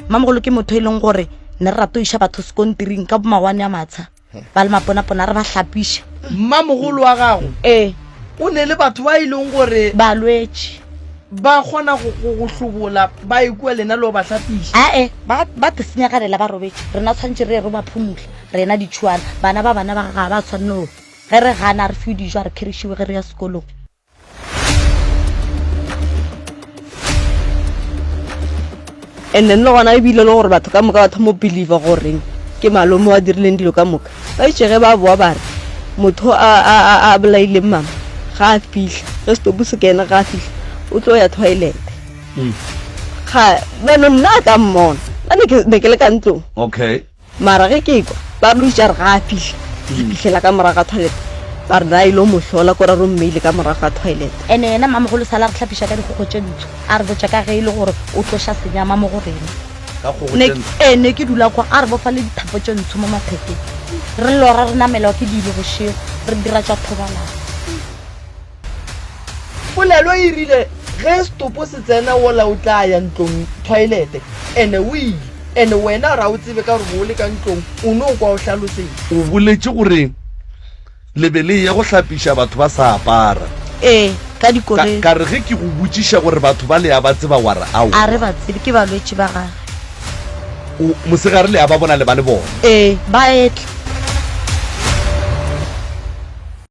mamogolo ke motho e leng gore ne re rato iša batho sekontiring ka bomawane a matsha ba le maponapona re ba hlapiša mmamogolo wa gago ee o ne le batho ba e leng gore balwetši ba kgona go go- go hlobola ba e kua lena le o ba hlapiša ae ba ba te senyaganela ba robetše rena tshwanetse re ye re ba phumula rena ditšhuana bana ba bana ba ga ba tshwanne Ge re gana, a re fiwe dijo, a re khirišiwe ge re ya sekolong. And then le gona ebile le gore batho ka moka ba thoma go believer goreng ke malome wa dirileng dilo ka moka ba itše ge ba boa ba re motho a a a a bolaileng mama ga a fihla ge setopo se kene ga a fihla o tlo ya toilet ga bano nna a ka mmona nna ne ke- ne ke le ka ntlong okay Mara ge ke ekwa ba re o itše a re ga a fihle, re fihlela ka morago ga toilet, ba re na a ile go mo hlola ko ra re o mmeile ka morago ga toilet. Ene yena Mmamogolo sale a re hlapiša ka dikgogo tše ntsho, a re botša ka ge e le gore o tlo ša senyama mo go rena. Ne, ee, ne ke dula kwa, a re bofa le dithapo tše ntsho mo mathekeng, re lora re namelwa ke dibe bošego, re dira tša thobalano. Polelo e rile, Ge setopo se tsena wola o tla ya ntlong, toilete. Ene o ile. Ene wena ga o tsebe ka gore bo o le ka ntlong, o no kwa o hlalosetša. O boletše gore le be le eya go hlapiša batho ba sa apara. Ee, ka dikoloi. Ka re ge ke go botšiša gore batho ba le a ba tseba wa re aowa. A re ba tsebe, ke balwetši ba gagwe. O, mosegare le a ba bona le ba le bona. Ee, ba etla.